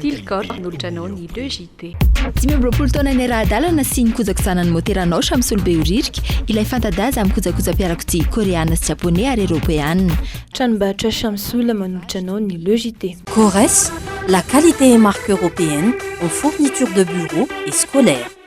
Till Corp nolotra anao ny Le JT. Dimy amby roapolo taona niara-hadalana sy nikojaky zanany motera Naosha misolo-behoririka ilay fanta-daza amin'ny kojakoja-piarakodia Koreana sy Japoney ary Eropeana. Tranombarotra Shamsul manolotra anao ny Le JT. Corres, la qualité et marque européenne en fourniture de bureau et scolaire.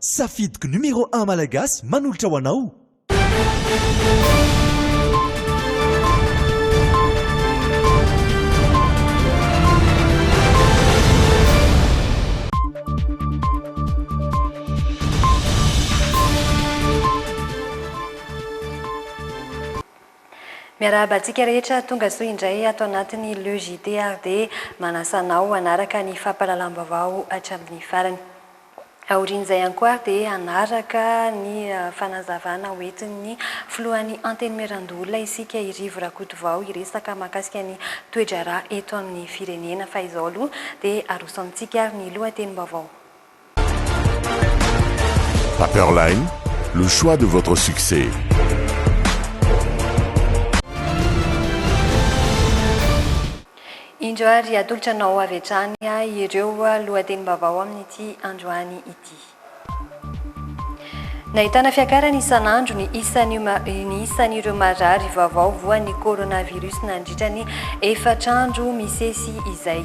Safidiko numero un malagasy manolotra ho anao. Miarahaba antsika rehetra tonga soa indray ato anatin'ny Le JT ary dia manasa anao hanaraka ny fampahalalam-baovao hatramin'ny farany. Aorian'izay ihany koa ary dia hanaraka ny fanazavana ho entin'ny filohan'ny Antenimierandoholona isika i Rivo Rakotovao hiresaka mahakasika ny toe-draharaha eto amin'ny firenena fa izao aloha dia aroso amintsika ary ny lohatenim-baovao. Paperline, le choix de votre succès. Indro ary atolotra anao avy hatrany ireo lohatenim-baovao amin'ity androany ity. Nahitana fiakarany isan'andro ny isan'ireo marary vaovao voan'ny coronavirus nandritra ny efatra andro misesy izay.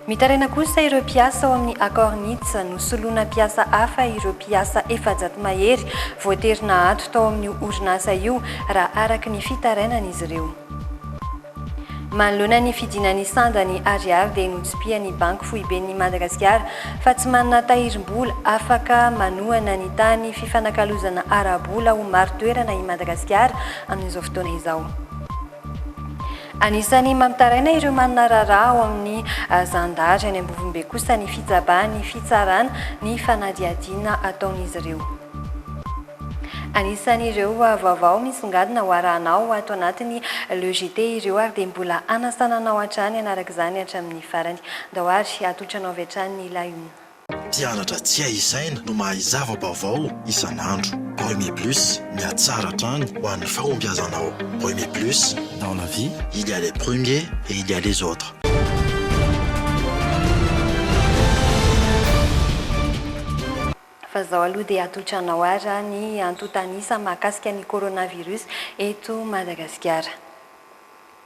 Mitaraina kosa ireo mpiasa ao amin'ny Acornitz, nosoloina mpiasa hafa ireo mpiasa efajato mahery voatery nahato tao amin'io orinasa io raha araka ny fitarainan'izy ireo. Manoloana ny fidinan'ny sandan'ny Ariary dia notsipihan'ny Banky foiben'ny Madagasikara fa tsy manana tahirim-bola afaka manohana ny tany fifanakalozana ara-bola ho marin-toerana i Madagasikara amin'izao fotoana izao. Anisan'ny mampitaraina ireo manana raharaha ao amin'ny zandary any Ambovombe kosa ny fitsabahan'ny fitsarana ny fanadihadiana ataon'izy ireo. Anisan'ireo vaovao misongadina ho arahanao ato anatin'ny Le JT ireo ary dia mbola hanasana anao hatrany hanaraka izany hatramin'ny farany. Ndao ary hatolotranao avy hatrany ny layoum. Mpianatra tsy hay isaina no mahay zava-baovao isan'andro. Remy Plus, mihatsara hatrany ho an'ny fahombiazanao. Remy Plus, dans la vie, il y a les premiers et il y a les autres. fa zao aloha dia atotranao ary ny antontanisa mahakasika ny coronavirus eto Madagasikara.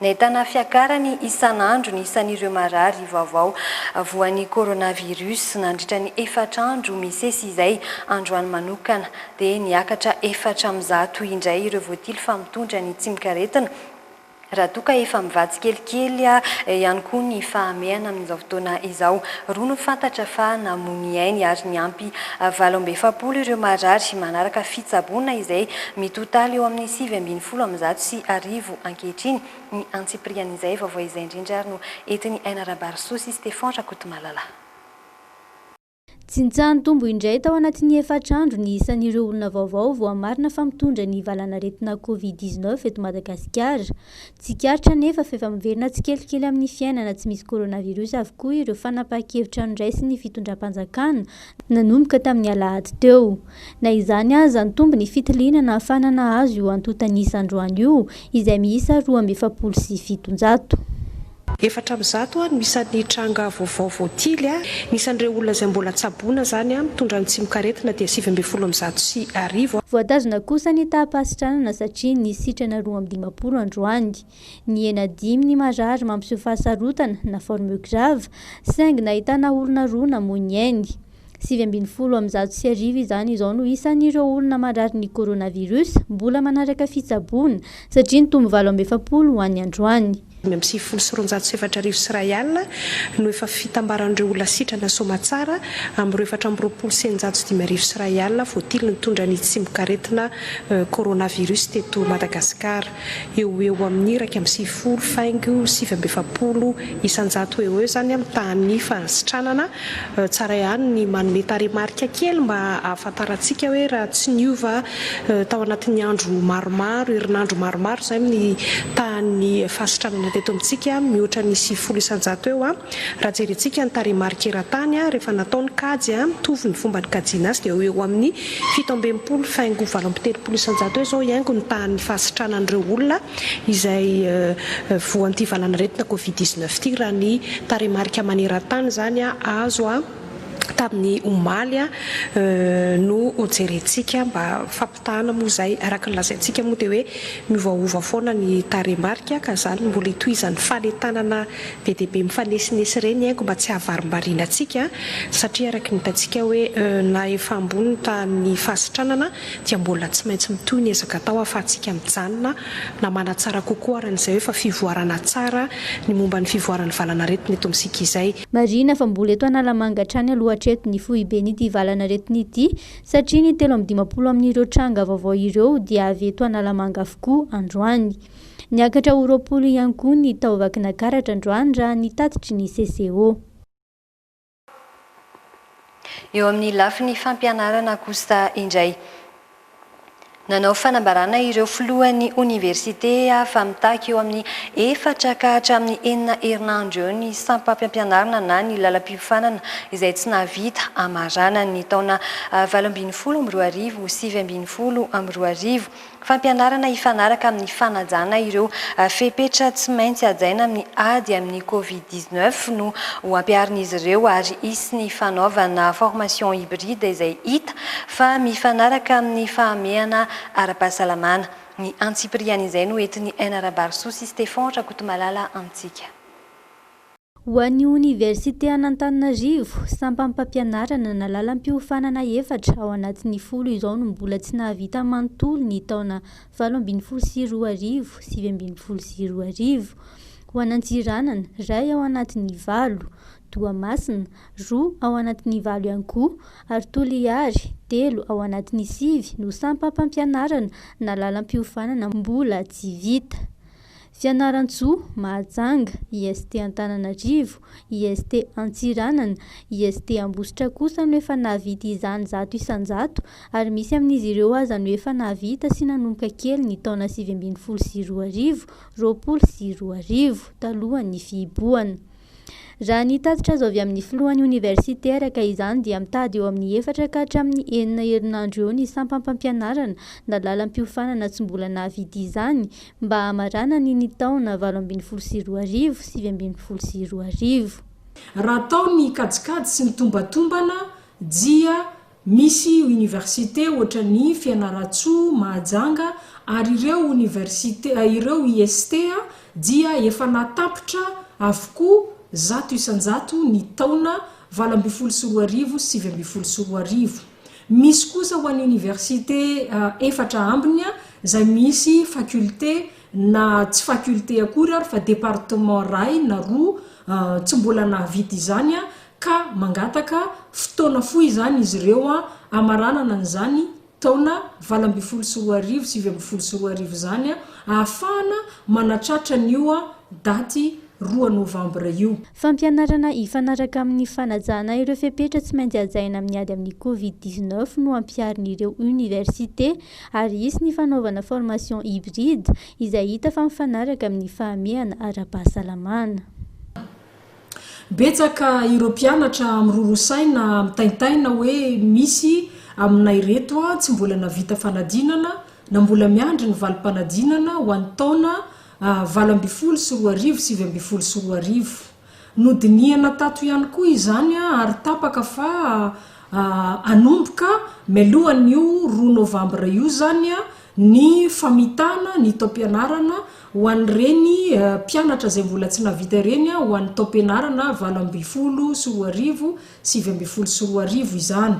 Nahitana fiakarany isan'andro ny isan'ireo marary vaovao voan'ny coronavirus nandritra ny efatra andro misesy izay, androany manokana dia niakatra efatra amin'ny zato indray ireo voatily fa mitondra ny tsimikaretina, Raha toa ka efa mivaha tsikelikely ihany koa ny fahamehana amin'izao fotoana izao. Roa no fantatra fa namoy ny ainy ary niampy valo amby efapolo ireo marary manaraka fitsaboana izay mitotaly eo amin'ny sivy ambin'ny folo amin'ny zato sy arivo ankehitriny. Ny antsipirian'izay vaovao izay indrindra ary no entin'i Aina Rabary Soa sy Stefan Rakotomalala. Jinja nitombo indray tao anatin'ny efatra andro ny isan'ireo olona vaovao voamarina fa mitondra ny valanaretina Covid dix neuf eto Madagasikara. Tsikaritra anefa fa efa miverina tsikelikely amin'ny fiainana tsy misy coronavirus avokoa ireo fanapahan-kevitra noraisin'ny fitondram-panjakana nanomboka tamin'ny alahady teo. Na izany aza, nitombo ny fitiliana nahafahana nahazo io antontan'isa androany io, izay miisa roa amby efapolo sy fitonjato. Efatra amby zato no isan'ny tranga vaovao voatily. Ny isan'ireo olona izay mbola tsaboina izany mitondra ny tsimokaretina dia sivy ambin'ny folo amby zato sy arivo. Voatazona kosa ny taham-pahasitranana satria nisy sitrana roa amby dimampolo androany. Nihena dimy ny marary mampiseho fahasarotana na forme grave saingy nahitana olona roa namoy ny ainy. Sivy ambin'ny folo amby zato sy arivo izany izao no isan'ireo olona marary ny coronavirus mbola manaraka fitsaboana, satria nitombo valo amby efapolo ho an'ny androany. Dimy amby sivifolo sy roanjato sy efatra arivo sy iray alina no efa fitambaran'ireo olona sitrana soamatsara amin'ireo efatra amby roapolo sy eninjato sy dimy arivo sy iray alina voatily nitondra ny tsimokaretina coronavirus teto Madagasikara. eo ho eo amin'ny iraika amby sivifolo faingo sivy amby efapolo isan-jato eo ho eo izany amin'ny tahan'ny fahasitranana. Tsara ihany ny manome tarehimarika kely mba hahafantarantsika hoe raha tsy niova tao anatin'ny andro maromaro, herinandro maromaro izany ny tahan'ny fahasitranana teto amintsika mihoatra ny sivifolo isan-jato eo raha jerentsika ny tarehimarika eran-tany rehefa natao ny kajy mitovy ny fomba nikajiana azy dia eo ho eo amin'ny Fito amby enimpolo faingo valo amby telopolo isan-jato eo izao hiaingo ny tahan'ny fahasitranan'ireo olona izay voan'ity valanaretina covid dix neuf ity raha ny tarehimarika maneran-tany izany azo tamin'ny omaly no jerentsika mba fampitahana moa izay araka ny lazaintsika moa dia hoe miovaova foana ny tarehimarika ka izany mbola itohizan'ny fanentanana Be dia be mifanesinesy re ny haiko mba tsy hahavarimbarina antsika satria araka ny hitantsika hoe na efa ambony ny tahan'ny fahasitranana dia mbola tsy maintsy mitohy ny ezaka atao ahafahantsika mijanona na manatsara kokoa aran'izay hoe efa fivoarana tsara ny momba ny fivoaran'ny valanaretina eto amintsika izay. Marihina fa mbola eto Analamanga hatrany aloha hatreto ny foiben'ity valanaretina ity satria ny telo amby dimampolo amin'ireo tranga vaovao ireo dia avy eto Analamanga avokoa androany. Niakatra ho roapolo ihany koa ny tao Vakinakaratra androany raha ny tatitry ny CCO. Eo amin'ny lafiny fampianarana kosa indray, nanao fanambarana ireo filohan'ny oniversite fa mitaky eo amin'ny efatra ka hatramin'ny enina herinandro eo ny sampam-piampianarana na ny lalam-piofanana izay tsy nahavita hamaranan'ny taona valo ambin'ny folo amby roa arivo sivy ambin'ny folo amby roa arivo. Fampianarana hifanaraka amin'ny fanajana ireo fepetra tsy maintsy hajaina amin'ny ady amin'ny Covid dix neuf no ho ampiharin'izy ireo ary hisy ny fanaovana formation hybride izay hita fa mifanaraka amin'ny fahamehana ara-pahasalamana. Ny antsipirihan'izay no entin'i NRabarisoa sy Stefan Rakotomalala amintsika. Ho an'ny Oniversite an'Antananarivo, sampam pampianarana na lalam-piofanana efatra ao anatin'ny folo izao no mbola tsy nahavita manontolo ny taona valo ambin'ny folo sy roa arivo, sivy ambin'ny folo sy roa arivo. Ho an'Antsiranana, iray ao anatin'ny valo, Toamasina, roa ao anatin'ny valo ihany koa, ary Toliary, telo ao anatin'ny sivy no sampam pampianarana na lalam-piofanana mbola tsy vita. Fianarantsoa, Mahajanga, IST Antananarivo, IST Antsiranana, IST Ambositra kosa no efa nahavita izany zato isan-jato ary misy amin'izy ireo aza no efa nahavita sy nanomboka kely ny taona sivy ambin'ny folo sy roa arivo, roapolo sy roa arivo, talohan'ny fihibohana. Raha ny tatitra azo avy amin'ny filohan'ny oniversite, araka izany, dia mitady eo amin'ny efatra ka hatramin'ny enina herinandro eo ny sampam-pampianarana na lalam-piofanana tsy mbola nahavidy izany mba hamaranany ny taona valo ambin'ny folo sy roa arivo, sivy ambin'ny folo sy roa arivo. Raha atao ny kajikajy sy ny tombatombana dia Misy université ohatran'ny Fianarantsoa, Mahajanga ary ireo université ireo IST dia efa natapitra avokoa zato isan-jato ny taona valo ambin'ny folo sy roa arivo sy sivy ambin'ny folo sy roa arivo. Misy kosa ho an'ny université efatra ambiny izay misy faculté na tsy faculté akory ary fa département iray na roa tsy mbola nahavita izany ka mangataka fotoana fohy izany izy ireo hamaranana an'izany taona valo ambin'ny folo sy roa arivo, sivy ambin'ny folo sy roa arivo izany, ahafahana manatratra an'io daty roa novambra io. Fampianarana hifanaraka amin'ny fanajana ireo fepetra tsy maintsy hajaina amin'ny ady amin'ny covid dix-neuf no ampiharin'ireo oniversite ary hisy ny fanaovana formation hybride izay hita fa mifanaraka amin'ny fahamehana ara-pahasalamana. Betsaka ireo mpianatra miroro saina mitaintaina hoe misy aminay reto tsy mbola navita fanadinana na mbola miandry ny valim-panadinana ho an'ny taona valo ambin'ny folo sy roa arivo, sivy ambin'ny folo sy roa arivo. Nodinihana tato ihany koa izany ary tapaka fa hanomboka mialohan'io roa novambra io izany Ny famitana ny taom-pianarana ho an'ireny mpianatra izay mbola tsy nahavita ireny ho an'ny taom-pianarana valo ambin'ny folo sy roa arivo, sivy ambin'ny folo sy roa arivo izany.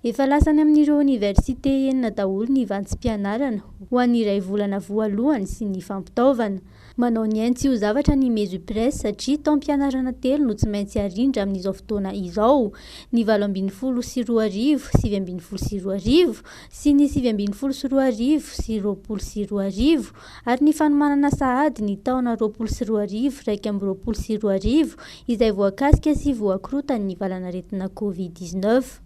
Efa lasa any amin'ireo oniversite enina daholo ny vantsim-pianarana ho an'ny iray volana voalohany sy ny fampitaovana. Manao ny ainy tsy ho zavatra ny Mesupres satria taom-pianarana telo no tsy maintsy arindra amin'izao fotoana izao, ny valo ambin'ny folo sy roa arivo, sivy ambin'ny folo sy roa arivo, sy ny sivy ambin'ny folo sy roa arivo sy roapolo sy roa arivo, ary ny fanomanana sahady ny taona roapolo sy roa arivo iraika amby roapolo sy roa arivo izay voakasika sy voakorotan'ny valan'aretina Covid dix-neuf.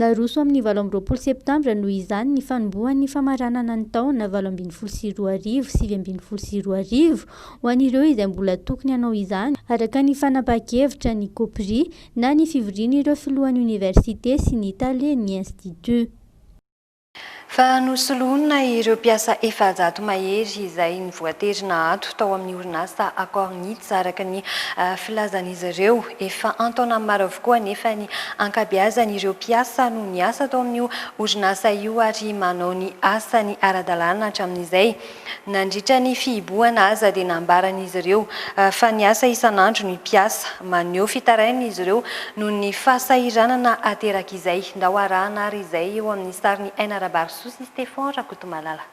Naroso amin'ny valo amby roapolo septambra, noho izany, ny fanombohan'ny famaranana ny taona valo ambin'ny folo sy roa arivo, sivy ambin'ny folo sy roa arivo, ho an'ireo izay mbola tokony hanao izany, araka ny fanapahan-kevitra ny Copri, na ny fivorian'ireo filohan'ny oniversite sy ny talen'ny Institut. Fa nosoloina ireo mpiasa efajato mahery izay nivoatery naato tao amin'ny orinasa Accord Nits araka ny filazan'izy ireo. Efa an-taonany maro avokoa anefa ny ankabeazan'ireo mpiasa no niasa tao amin'io orinasa io ary manao ny asany ara-dalàna hatramin'izay. Nandritra ny fihibohana aza dia nambaran'izy ireo fa ny asa isan'andro ny mpiasa. Maneho fitarainana izy ireo noho ny fahasahiranana aterak'izay. Ndao arahana ary izay eo amin'ny sarin'i Aina Rabarisoa sy Stefan Rakotomalala.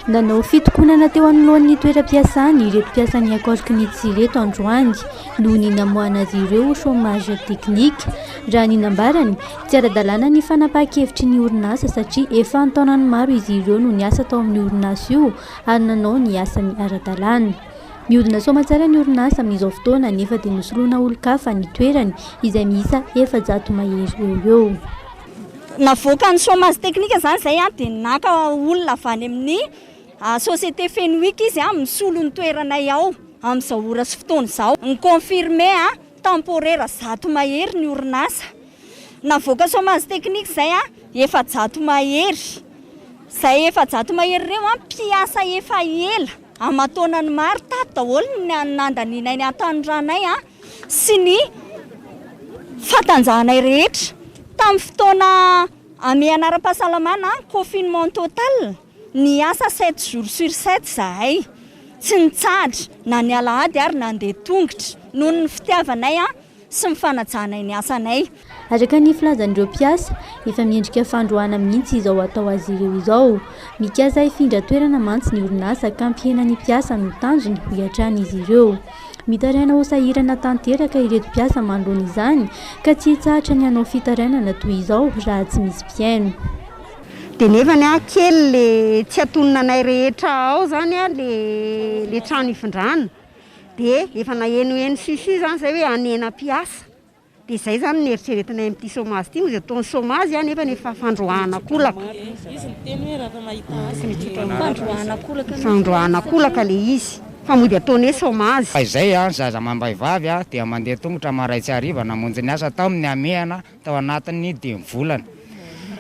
Nanao fitokonana teo anoloan'ny toeram-piasany ireto mpiasan'ny Accord Knits ireto androany noho ny namoahana azy ireo ho chômage technique. Raha ny nambarany, tsy ara-dalàna ny fanapahan-kevitry ny orinasa satria efa an-taonany maro izy ireo no niasa tao amin'io orinasa io ary nanao ny asany ara-dalàna. Mihodina soamantsara ny orinasa amin'izao fotoana nefa dia nosoloina olon-kafa ny toerany izay miisa efajato mahery eo ho eo. Navoakan'ny chômage technique izany izay dia naka olona avy any amin'ny société Fenwick izy misolo ny toeranay ao amin'izao ora sy fotoana izao. Ny confirmé temporaire zato mahery ny orinasa navoaka chômage technique izay, efajato mahery. Izay efajato mahery ireo mpiasa efa ela aman-taonany maro tato daholo ny nandanianay ny hatanorànay. sy ny fatanjahanay rehetra tamin'ny fotoana amehana ara-pahasalamana, confinement total, niasa sept jours sur sept izahay, tsy nitsahatra na ny alahady ary nandeha tongotra noho ny fitiavanay sy ny fanajanay ny asanay. Araka ny filazan'ireo mpiasa, efa miendrika fandroahana mihitsy izao atao azy ireo izao. Mikasa hifindra toerana mantsy ny orinasa ka hampihena ny mpiasa no tanjony, hoy hatrany izy ireo. Mitaraina ho sahirana tanteraka ireto mpiasa manoloana izany ka tsy hitsahatra ny hanao fitarainana toy izao raha tsy misy mpihaino. Dia nefa ny ahy kely le tsy atonina anay rehetra ao zany le le trano ifindrana dia efa nahenoheno si si zany zay hoe hanena mpiasa. Dia izay izany no eritreretinay amin'ity chômage ity, izy ataony chômage nefa efa fandroahan'akolaka. Izy miteny hoe raha mahita asa dia fandroahan'akolaka. Fandroahan'akolaka ilay izy fa mody ataony hoe chômage. Fahizay, ny zaza amam-behivavy dia mandeha tongotra marain-tsy hariva namonjy ny asa tao amin'ny hamehana tao anatin'ny dimy volana.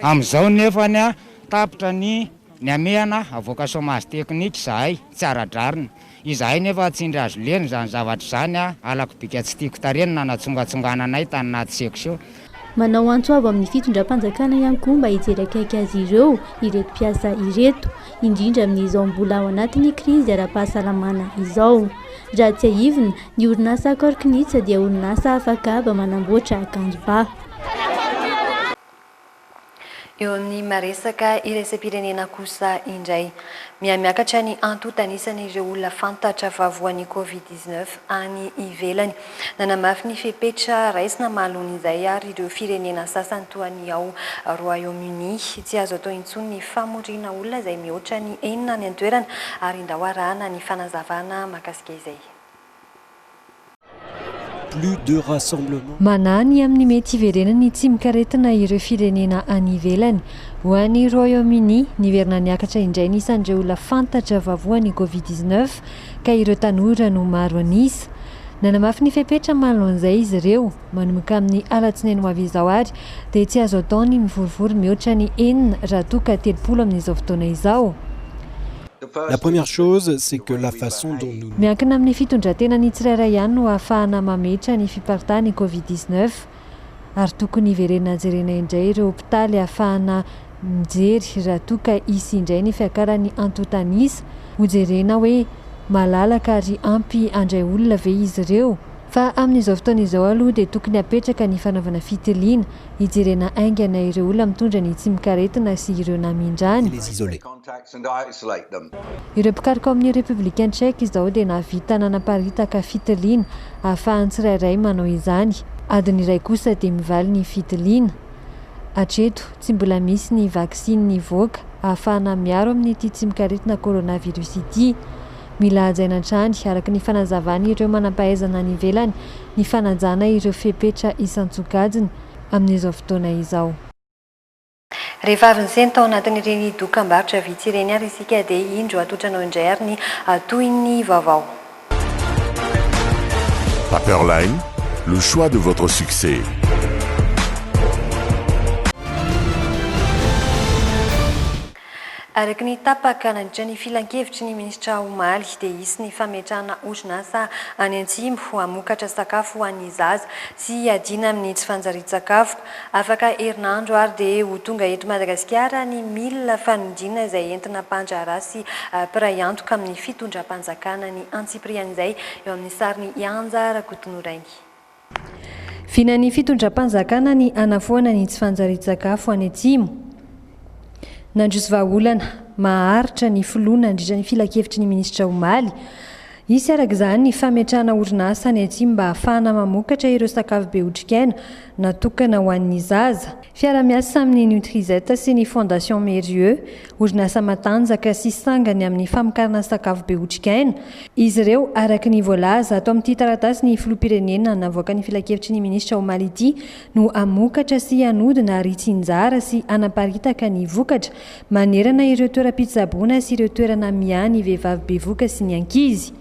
Amin'izao nefa tapitra ny Ny hamehana havoaka chômage technique izahay tsy ara-drariny. Izahay nefa tsy indry azo lena izany zavatra izany a! Halako bika tsy tiako tarehy ny nanatsongatsongana anay tany anaty section. Manao antso avo amin'ny fitondram-panjakana ihany koa mba hijery akaiky azy ireo ireto mpiasa ireto, indrindra amin'izao mbola ao anatin'ny krizy ara-pahasalamana izao. Raha tsiahivina, ny orinasa Accord Knits dia orinasa afakaba manamboatra akanjo ba. Eo amin'ny maresaka iraisam-pirenena kosa indray, mihamiakatra ny antontan'isan'ireo olona fantatra fa voan'ny Covid dix neuf any ivelany. Nanamafy ny fepetra raisina mahaloan'izay ary ireo firenena sasany toa ny ao Royaume-Uni. Tsy azo atao intsony ny famoriana olona izay mihoatra ny enina any an-toerana ary ndao arahana ny fanazavana mahakasika izay. Manahy ny amin'ny mety hiverenan'ny tsimok'aretina ireo firenena any ivelany. Ho an'i Royaume-Uni, niverina niakatra indray ny isan'ireo olona fantatra vavoan'ny Covid dix neuf, ka ireo tanora no maro an'isa. Nanamafy ny fepetra manoloan'izay izy ireo. Manomboka amin'ny alatsinainy ho avy izao àry, dia tsy azo atao ny mivorivory mihoatra ny enina raha toa ka telopolo amin'izao fotoana izao. La première chose c'est que la façon dont nous. Miankina amin'ny fitondran-tenan'ny tsirairay ihany no ahafahana mametra ny fiparitahan'ny covid dix neuf ary tokony hiverenana jerena indray ireo hopitaly ahafahana mijery raha toa ka hisy indray ny fiakaran'ny antontan'isa, hojerena hoe malalaka ary ampy handray olona ve izy ireo? Fa amin'izao fotoana izao aloha dia tokony hapetraka ny fanaovana fitiliana, hijerena haingana ireo olona mitondra ny tsimokaretina sy ireo namindrany. Ireo mpikaroka ao amin'ny Repoblikan Tchèque izao dia nahavita nanaparitaka fitiliana ahafahan'ny tsirairay manao izany. Adiny iray kosa dia mivaly ny fitiliana. Hatreto, tsy mbola misy ny vaksiny nivoaka ahafahana miaro amin'ity tsimok'aretina coronavirus ity. Mila hajaina hatrany, araka ny fanazavan'ireo manampahaizana any ivelany, ny fanajana ireo fepetra isan-tsokajiny amin'izao fotoana izao. Rehefa avy nisento tao anatin'ireny dokam-barotra vitsy ireny ary isika dia indro atotranao indray ary ny tohin'ny vaovao. Paperline, le choix de votre succès. Araka ny tapaka nandritra ny filankevitry ny minisitra omaly dia hisy ny fametrahana orinasa any Antsimo hamokatra sakafo ho an'ny zaza sy hiadiana amin'ny tsy fanjarian-tsakafo. Afaka herinandro ary dia ho tonga eto Madagasikara ny milina fanodinana izay entina mpandraharaha sy mpiray antoka amin'ny fitondram-panjakana ny antsipirihan'izay eo amin'ny sarin'i Ianja Rakotonorainy. Vinan'ny fitondram-panjakana ny hanafoana ny tsy fanjarian-tsakafo any Atsimo. Nandroso vahaolana maharitra ny filoha nandritra ny filankevitry ny minisitra omaly. Hisy araka izany ny fametrahana orinasa any atsimo mba hahafahana mamokatra ireo sakafo be otrikaina natokana ho an'ny zaza. Fiara-miasa amin'ny Nutrizette sy ny Fondation Mérieux, orinasa matanjaka sy sangany amin'ny famokarana sakafo be otrikaina, izy ireo, araka ny voalaza ato amin'ity taratasy ny Filoham-pirenena navoakan'ny Filankevitry ny Minisitra omaly ity, no hamokatra sy hanodina ary hitsinjara sy hanaparitaka ny vokatra Manerana ireo toeram-pitsaboana sy ireo toerana miahy ny vehivavy bevoka sy ny ankizy.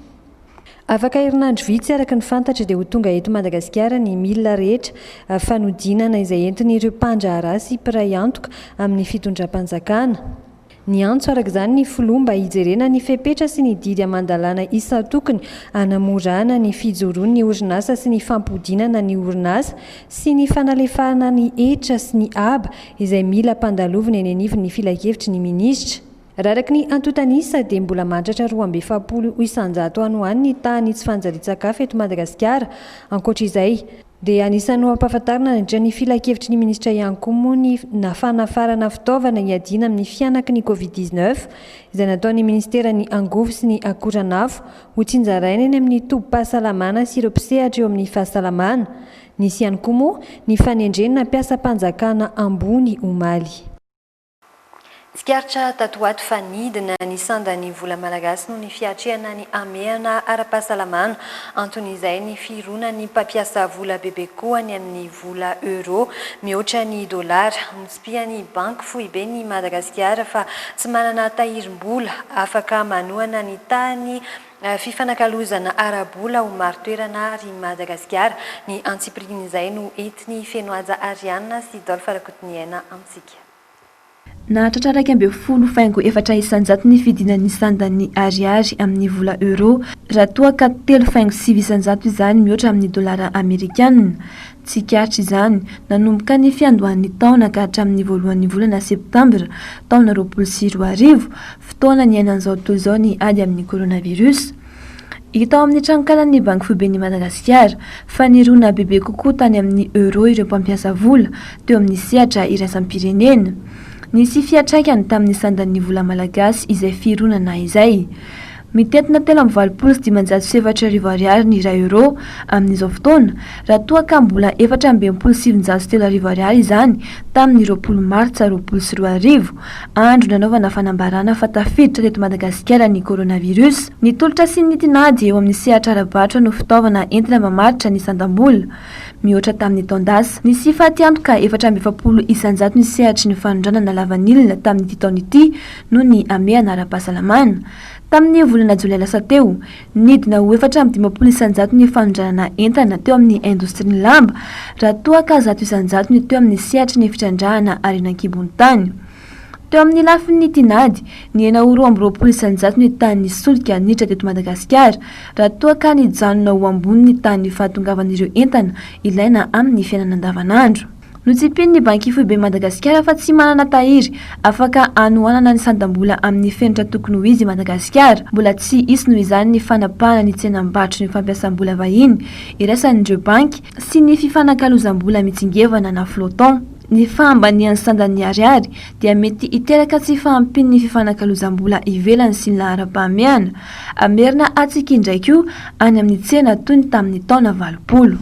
Afaka herinandro vitsy araka ny fantatra dia ho tonga eto Madagasikara ny milina rehetra fanodinana izay entin'ireo mpandraharaha sy mpiray antoka amin'ny fitondram-panjakana. Niantso araka izany ny filoha mba hijerena ny fepetra sy ny didy aman-dalàna isan-tokony hanamorana ny fijoroan'ny orinasa sy ny fampodinana ny orinasa sy ny fanalefahana ny hetra sy ny haba izay mila ampandalovina eny anivon'ny Filankevitry ny Minisitra. Raha araka ny antontan'isa dia mbola mahatratra roa amby efapolo isan-jato any ho any ny tahan'ny tsy fanjarian-tsakafo eto Madagasikara. Ankoatra izay, dia anisan'ny ho ampahafantarina nandritra ny Filankevitry ny Minisitra ihany koa moa ny fanafarana fitaovana hiadiana amin'ny fihanaky ny Covid dix neuf izay nataon'ny Minisiteran'ny Angovo sy ny Akoranafo ho tsinjaraina eny amin'ny tobim-pahasalamana sy ireo mpisehatra eo amin'ny fahasalamana Nisy ihany koa moa ny fanendrena mpiasam-panjakana ambony omaly. Tsikaritra tato ho ato fa nidina ny sandan'ny vola malagasy noho ny fiatrehana ny hamehana ara-pahasalamana. Anton'izay ny fironan'ny mpampiasa vola bebe kokoa ny amin'ny vola euro mihoatra ny dolara. Notsipihan'ny Banky foiben'i Madagasikara fa tsy manana tahirim-bola afaka manohana ny tahan'ny Fifanakalozana ara-bola ho marin-toerana ary i Madagasikara. Ny antsipirihin'izay no entin'i Fenohaja Ariana sy Dolph Rakotoniaina amintsika. Nahatratra iraika ambin'ny folo faingo efatra isan-jato ny fidinan'ny sandan'ny Ariary amin'ny vola Euro, raha toa ka telo faingo sivy isan-jato izany mihoatra amin'ny dolara amerikanina. Tsikaritra izany, nanomboka ny fiandohan'ny taona ka hatramin'ny voalohan'ny volana septambra, taona roapolo sy roa arivo, fotoana niainan'izao tontolo izao ny ady amin'ny coronavirus. Hita ao amin'ny tranonkalan'ny Banky Foiben'i Madagasikara, fa nirona bebe kokoa tany amin'ny Euro ireo mpampiasa vola, teo amin'ny sehatra iraisam-pirenena. Nisy fiantraikany tamin'ny sandan'ny vola malagasy izay fironana izay. Mitentina telo amby valopolo sy dimanjato sy efatra arivo Ariary ny iray Euro amin'izao fotoana, raha toa ka mbola efatra amby enimpolo sy sivinjato sy telo arivo Ariary izany tamin'ny roapolo Martsa roapolo sy roa arivo, andro nanaovana fanambarana fa tafiditra teto Madagasikara ny Coronavirus. Ny tolotra sy ny tinady eo amin'ny sehatra ara-barotra no fitaovana entina mamaritra ny sandam-bola, mihoatra tamin'ny taon-dasa. Nisy fatiantoka efatra amby efapolo isanjato ny sehatry ny fanondranana lavanila tamin'ity taona ity noho ny hamehana ara-pahasalamana. Tamin'ny volana jolay lasa teo, nidina ho efatra amby dimampolo isanjato ny fanondranana entana teo amin'ny indostrian'ny lamba, raha toa ka zato isanjato ny teo amin'ny sehatry ny fitrandrahana harena an-kibon'ny tany. Teo amin'ny lafin'ny tinady, nihena ho roa amby roapolo isanjato ny tahan'ny solika niditra teto Madagasikara, raha toa ka nijanona ho ambony ny tahan'ny fahatongavan'ireo entana ilaina amin'ny fiainana andavanandro. Notsipin'ny Banky Foiben'i Madagasikara fa tsy manana tahiry afaka hanohanana ny sandam-bola amin'ny fenitra tokony ho izy i Madagasikara. Mbola tsy hisy noho izany ny fanapahana ny tsenam-barotry ny fampiasam-bola vahiny iraisan'ireo banky sy ny fifanakalozam-bola mitsingevana na flottant. Ny fahambanian'ny sandan'ny Ariary dia mety hiteraka tsy fahampian'ny fifanakalozam-bola ivelany sy ny laharam-pahamehana hamerina hatsiky indray koa any amin'ny tsena toy ny tamin'ny taona valopolo.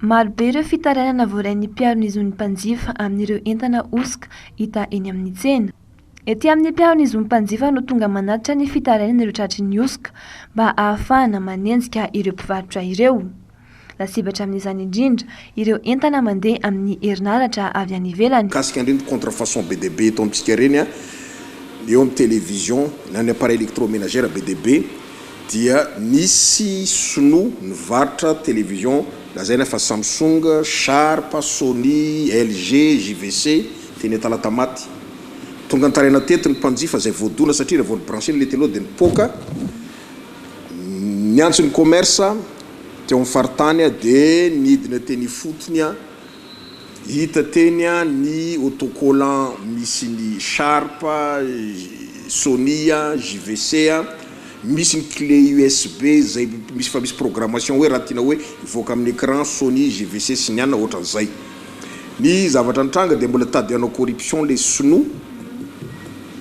Marobe ireo fitarainana voarain'ny mpiaro ny zon'ny mpanjifa amin'ireo entana hosoka hita eny amin'ny tsena. Ety amin'ny mpiaro ny zon'ny mpanjifa no tonga manatitra ny fitarainana ireo tratry ny hosoka mba ahafahana manenjika ireo mpivarotra ireo. Lasibatra amin'izany indrindra ireo entana mandeha amin'ny herinaratra avy any ivelany. Mikasika an'ireny contrefaçon be dia be eto amintsika ireny eo amin'ny television na ny appareil electromenagère be dia be, dia nisy sinoa nivarotra television lazaina fa Samsung, Sharp, Sony, LG, JVC, teny Talatamaty. Tonga nitaraina teto ny mpanjifa izay voadona satria raha vao ni-brancher-ny ilay télé dia nipoaka. Niantso ny commerce teo amin'ny faritany dia nidina teny ifotony. Hita teny ny autocollant misy ny Sharp, Sony, JVC, misy ny clé usb izay misy efa misy programmation hoe raha tianao hoe hivoaka amin'ny écran Sony, JVC sy ny anona ohatran'izay. Ny zavatra nitranga dia mbola tadiano corruption ilay sinoa.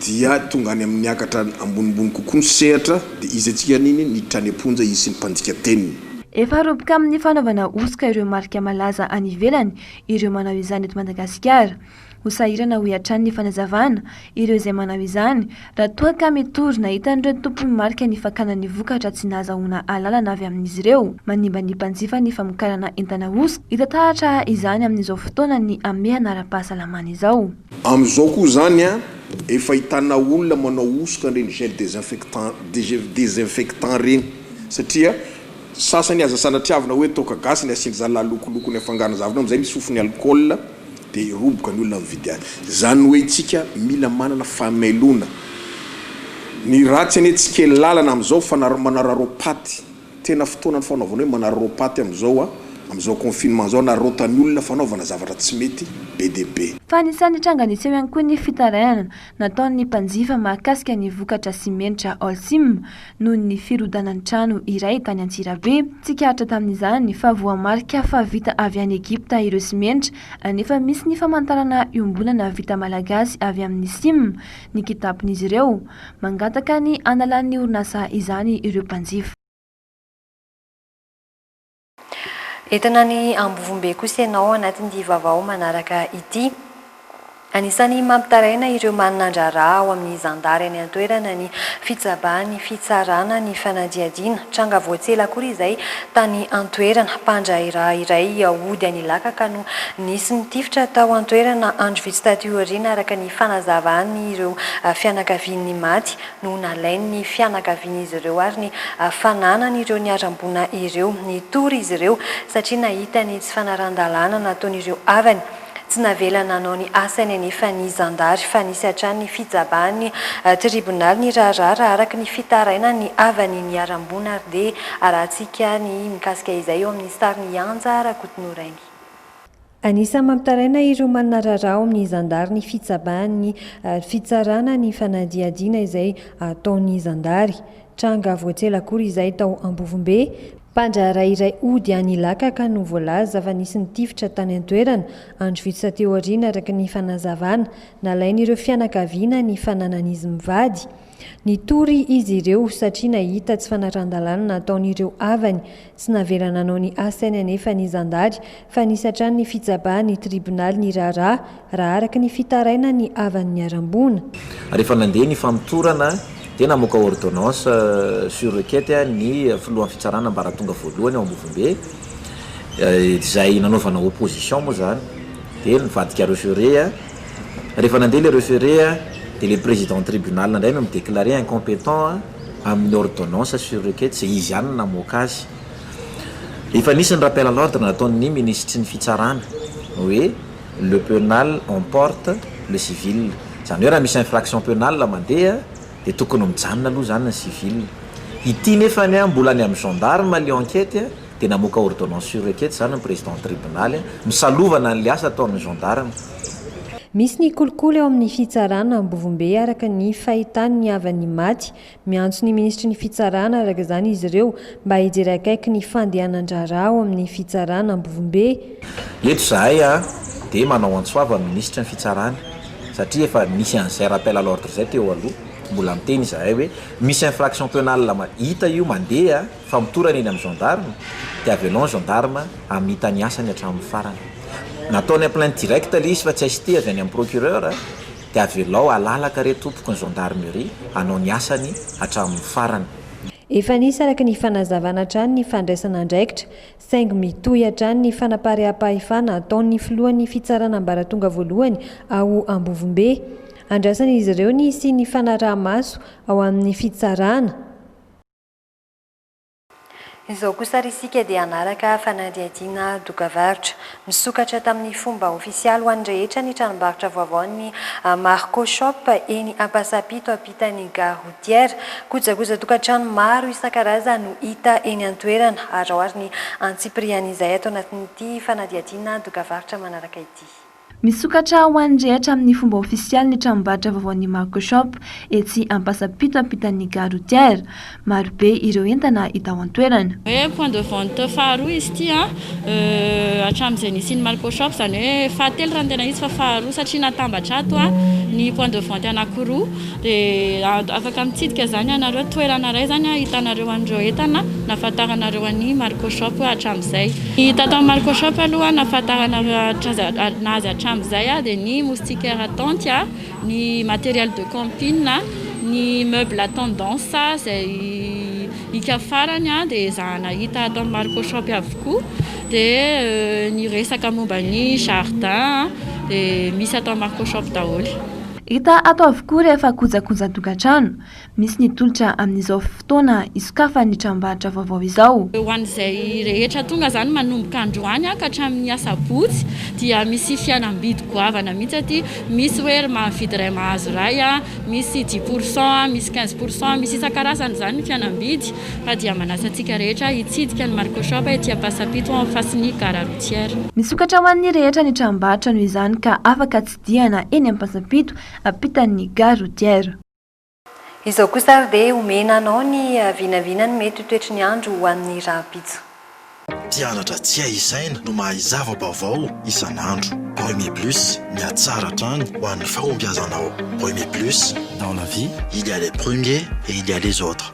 dia tonga any amin'ny niakatra ambonimbony kokoa ny sehatra, dia izy antsika an'iny niditra any am-ponja izy sy ny mpandika teniny. Efa roboka amin'ny fanaovana hosoka ireo marika malaza any ivelany ireo manao izany eto Madagasikara. Ho sahirana hoy hatrany ny fanazavana ireo izay manao izany raha toa ka mitory nahita an'ireo tompon'ny marika ny fakana ny vokatra tsy nahazahoana alalana avy amin'izy ireo manimba ny mpanjifa ny famokarana entana hosoka. Hita taratra izany amin'izao fotoana ny hamehana ara-pahasalamana izao. Amin'izao koa izany an, efa ahitana olona manao hosoka an'ireny gel desinfectant desinfectant ireny satria sasany aza sanatriavina hoe toaka gasy ny asian-dry zalahy lokoloko ny afangarony zavatra amin'izay misy fofon'ny alcool dia roboka ny olona mividy azy. Izany hoe isika mila manana fahamelona. Ny ratsy anie tsy kely lalana amin'izao fa manararaopaty. Tena fotoana ny fanaovana hoe manararaoa paty amin'izao a, amin'izao confinement izao anararaotan'ny olona fanaovana zavatra tsy mety be dia be. Fa anisan'ny tranga niseho ihany koa ny fitarainana nataon'ny mpanjifa mahakasika ny vokatra simenitra Holcim noho ny firodanan'ny trano iray tany Antsirabe. Tsikaritra tamin'izany fa voamarika fa vita avy any Egypta ireo simenitra, anefa misy ny famantarana iombonana vita malagasy avy amin'ny sim, ny kitapin'izy ireo. Mangataka ny hanalan'ny orinasa izany ireo mpanjifa. Entina any Ambovombe kosa ianao anatin'ity vaovao manaraka ity. Anisan'ny mampitaraina ireo maninandraharaha ao amin'ny zandary any an-toerana ny fitsabahan'ny fitsarana ny fanadihadiana. Tranga vao tsy ela akory izay tany an-toerana, mpandrahiraha iray hody an'Ilaka ka no nisy nitifitra tao an-toerana andro vitsy taty aoriana araka ny fanazavan'ireo fianakavian'ny maty no nalain'ny fianakavian'izy ireo ary ny fananan'ireo niharam-boina ireo. Nitory izy ireo satria nahita ny tsy fanarahan-dalàna nataon'ireo havany. Tsy navela nanao ny asany anefa ny zandary fa nisy hatrany ny fijabahan'ny tribonaly ny raharaha raha araka ny fitarainan'ny havan'ny niharam-boina ary dia arahantsika ny mikasika izay eo amin'ny sarin'i Anja Rakotonorainy. Anisan'ny mampitaraina ireo manana raharaha ao amin'ny zandary ny fitsabahan'ny fitsarana ny fanadihadiana izay ataon'ny zandary. Tranga voatsela akory izay tao Ambovombe. Mpandraharaha iray hody any Ilakaka no voalaza fa nisy nitifitra tany an-toerana, andro vitsy taty aoriana, araka ny fanazavana. Nalain'ireo fianakaviana ny fananan'izy mivady. Nitory izy ireo satria nahita tsy fanaran-dalàna nataon'ireo havany. Tsy navela nanao ny asany anefa ny zandary fa nisy hatrany ny fitsabahan'ny tribonaly ny raharaha, raha araka ny fitarainan'ny havan'ny niharam-boina. Rehefa nandeha ny famotorana dia namoaka ordonnance sur requête ny filohan'ny fitsarana ambaratonga voalohany ao Ambovombe, izay nanaovana opposition moa izany, dia nivadikareo sur re. Rehefa nandeha ilay refere dia ilay président tribunal indray no mi-declarer incompetent amin'ny ordonnance sur requête izay izy ihany no namoaka azy. Efa nisy ny rappel à l'ordre nataon'ny minisitry ny fitsarana hoe le penal emporte le civil. Izany hoe raha misy infraction penale mandeha dia tokony mijanona aloha izany ny civil. Ity nefany mbola any amin'ny gendarmes ilay enquête. dia namoaka ordonnance sur requête izany ny président tribonaly misalovana an'ilay asa ataon'ny gendarmes. Misy ny kolikoly ao amin'ny fitsarana Ambovombe araka ny fahitan'ny havan'ny maty. Miantso ny minisitry ny fitsarana araka izany izy ireo mba hijery akaiky ny fandehanan-draharaha ao amin'ny fitsarana Ambovombe. Eto izahay dia manao antso avo amin'ny minisitry ny fitsarana satria efa nisy an'izay rappel à l'ordre izay teo aloha. Mbola miteny izahay hoe misy infraction penale hita io mandeha. Famotorana eny amin'ny gendarme dia avy aloha ny gendarme hamita ny asany hatramin'ny farany. Nataony en plainte directe ilay izy fa tsy ST avy any amin'ny procureur dia avelao halalaka re tompoko ny gendarmerie hanao ny asany hatramin'ny farany. Efa nisy araka ny fanazavana hatrany ny fandraisana andraikitra saingy mitohy hatrany ny fanaparehampahefana ataon'ny filohan'ny fitsarana ambaratonga voalohany ao Ambovombe. Andrasan'izy ireo ny hisian'ny fanaraha-maso ao amin'ny fitsarana. Izao kosa ary isika dia hanaraka fanadihadiana dokavarotra. Misokatra tamin'ny fomba ofisialy ho an'ny rehetra ny tranombarotra vaovaon'ny Marco Shop eny Ampasampito ampitan'ny Gare Routière. Kojakojan-tokantrano maro isan-karazany no hita eny an-toerana arao ary ny antsipirian'izay ato anatin'ity fanadihadiana dokavarotra manaraka ity. Misokatra ho an'ny rehetra amin'ny fomba ofisialy ny tranombarotra vaovaon'ny Marco Shop etsy Ampasampito ampitan'ny Gare routière. Marobe ireo entana hita ao an-toerana. Hoe point de vente faharoa izy ity hatramin'izay nisian'ny Marco Shop, izany hoe fahatelo raha ny tena izy fa faharoa satria natambatra ato ny point de vente anankiroa. Dia afaka mitsidika izany ianareo, toerana iray izany ahitanareo an'ireo entana nahafantaranareo an'i Marco Shop hatramin'izay. Ny tato amin'ny Marco Shop aloha nahafantarana azy hatramin'izay dia ny moustiquaire tente, ny matériel de camping, ny meuble à tendance izay hika farany dia ezahana hita ato amin'ny Marco Shop avokoa. Dia ny resaka momba ny jardin dia misy ato amin'ny Marco Shop daholo. Hita ato avokoa rehefa kojakojan-tokantrano, misy ny tolotra amin'izao fotoana isokafan'ny tranombarotra vaovao izao. Ho an'izay rehetra tonga izany manomboka androany ka hatramin'ny asabotsy dia misy fialam-bidy goavana mihitsy aty, misy hoe ry mahavidy iray mahazo iray, misy dix pour cent, misy quinze pour cent, misy isan-karazany izany ny fialam-bidy ka dia manasa antsika rehetra hitsidika ny Marco Shop ety Ampasampito en face ny gare routière. Misokatra ho an'ny rehetra ny tranombarotra noho izany ka afaka Diana eny Ampasampito ampitan'ny gare routière. Izao kosa ary dia omena anao ny vinavina ny mety ho toetry ny andro ho an'ny rahampitso. Mpianatra tsy hay isaina no mahay zava-baovao isan'andro. Remy Plus, mihatsara hatrany ho an'ny fahombiazanao. Remy Plus, dans la vie, il y a les premiers et il y a les autres.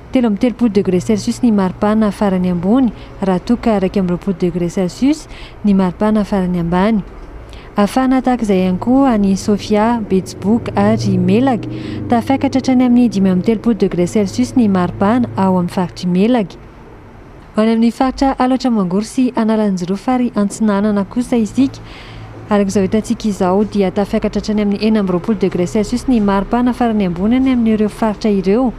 Telo amby telopolo degré celsius ny maripana farany ambony raha toa ka iraika amby roapolo degré celsius ny maripana farany ambany. Hafana tahaka izay ihany koa any Sofia, Betsiboka ary Melaky. Tafiakatra hatrany amin'ny dimy amby telopolo degré celsius ny maripana ao amin'ny faritr'i Melaky. Any amin'ny faritra Alatra Mangoro sy Analanjirofo ary Antsinanana kosa isika. Araka izao hitantsika izao dia tafiakatra hatrany amin'ny enina amby roapolo degré celsius ny maripana farany ambony any amin'ireo faritra ireo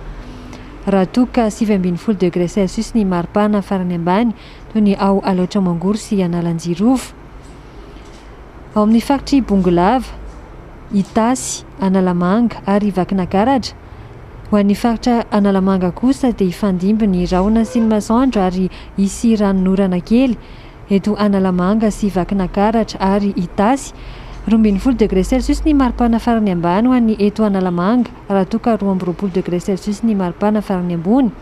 raha toa ka sivy ambin'ny folo degré celsius ny maripana farany ambany toy ny ao Alaotra Mangoro sy Analanjirofo. Ao amin'ny faritr'i Bongolava. Itasy, Analamanga ary Vakinakaratra. Ho an'ny faritra Analamanga kosa dia hifandimby ny rahona sy ny masoandro ary hisy ranonorana kely. Eto Analamanga sy Vakinakaratra ary Itasy, roa ambin'ny folo degré celsius ny maripana farany ambany ho an'ny eto Analamanga raha toa ka roa amby roapolo degré celsius ny maripana farany ambony.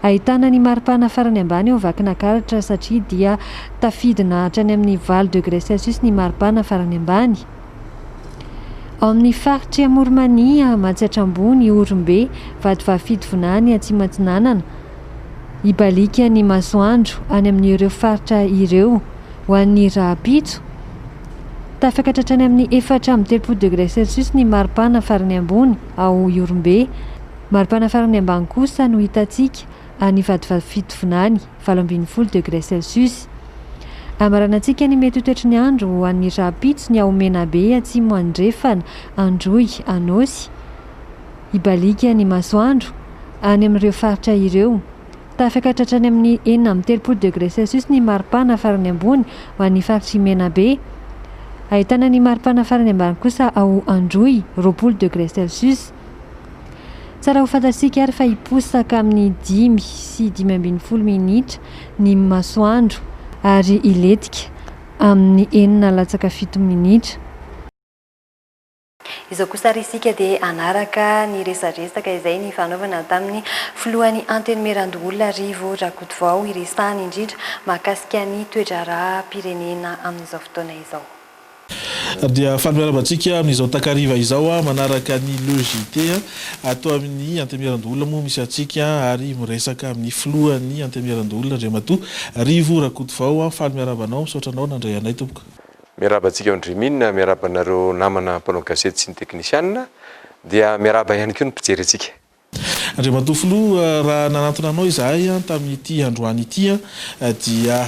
Ahitana ny maripana farany ambany ao Vakinakaratra satria dia tafidina hatrany amin'ny valo degré celsius ny maripana farany ambany. Ao amin'ny faritry Amorimania, Matsiatra Ambony, Ihorombe, Vatovavy-Fitovonany, Atsimatsinanana, ibaliaka ny masoandro any amin'ireo faritra ireo ho an'ny rahampitso. Tafakatra hatrany amin'ny efatra amby telopolo degré celsius ny maripana farany ambony ao Ihorombe. Maripana farany ambany kosa no hitantsika any Vatovavy-Fitovinany, valo ambin'ny folo degré celsius. Hamaranantsika ny mety ho toetry ny andro ho an'ny rahampitso ny ao Menabe atsimo andrefana, Androy, Anôsy. Hibaliaka ny masoandro any amin'ireo faritra ireo. Tafakatra hatrany amin'ny enina amby telopolo degré celsius ny maripana farany ambony ho an'ny faritr'i Menabe. Ahitana ny maripana farany ambany kosa ao Androy, roapolo degré celsius. Tsara ho fantatsika ary fa hiposaka amin'ny dimy sy dimy ambin'ny folo minitra ny masoandro ary hilentika amin'ny enina latsaka fito minitra. Izao kosa ary isika dia hanaraka ny resadresaka izay nifanaovana tamin'ny filohan'ny Antenimierandoholona Rivo Rakotovao hiresahany indrindra mahakasika ny toe-draharaham-pirenena amin'izao fotoana izao. Dia faly miarahaba antsika amin'izao takariva izao manaraka ny Le JT ato amin'ny Antemierandoholona moa misy antsika ary miresaka amin'ny filohan'ny Antemierandoholona Andriamatoa Rivo Rakotovao. Faly miarahaba anao, misaotra anao nandray anay tompoko. Miarahaba antsika ao Andriamina, miarahaba anareo namana mpanao gazety sy ny teknisianina, dia miarahaba ihany koa ny mpijery antsika. Andriamatoa Filoha, raha nanantona anao izahay tamin'ity androany ity dia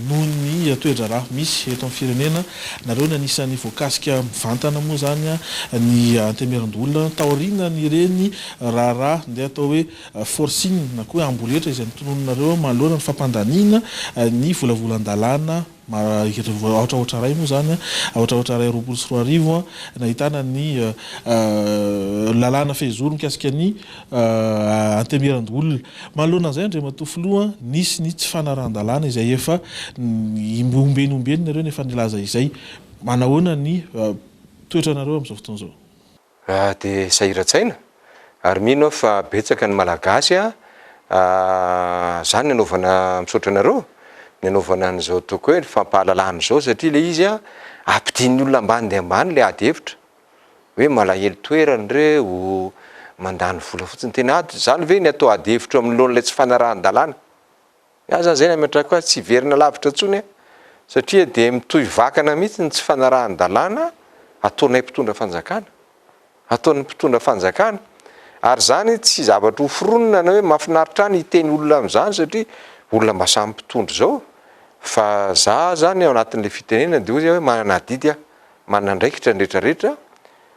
noho ny toe-draharaha misy eto amin'ny firenena, nareo ny anisan'ny voakasika mivantana moa izany ny Antemerin-doholona, taorianan'ireny raharaha ndeha atao hoe forcing na koa hoe amboletra izay notononinareo manoloana ny fampandaniana ny volavolan-dalàna Aotra aotra iray moa izany an, aotra aotra iray roapolo sy roa arivo an, nahitana ny lalàna fehizoro mikasika ny anteberan-doholona. Manoloana an'izay Andriamatoa Filoha an, nisy ny tsy fanarahan-dalàna izay efa ombieny ombieny nareo no efa nilaza izay. Manahoana ny toetranareo amin'izao fotoana izao? Raha dia sahiran-tsaina, ary mino aho fa betsaka ny Malagasy zany anaovana, misaotra anareo, ny anaovana an'izao toaka hoe fampahalalana izao satria ilay izy ampidirin'ny olona ambany dia ambany ilay ady hevitra, hoe malahelo toerana ireo, mandany vola fotsiny, tena ady, izany ve ny atao ady hevitra eo anoloan'ilay tsy fanarahan-dalàna? Izaho izany izay nametrako azy tsy hiverina lavitra intsony satria dia mitohy vakana mihitsy ny tsy fanarahan-dalàna ataonay mpitondra fanjakana, ataon'ny mpitondra fanjakana ary izany tsy zavatra hoforonina na hoe mahafinaritra ahy ny hiteny olona amin'izany satria olona mba samy mpitondra izao fa izaho izany ao anatin'ilay fitenenana dia hoy izy aho hoe manana adidy aho, manana andraikitra ny rehetrarehetra.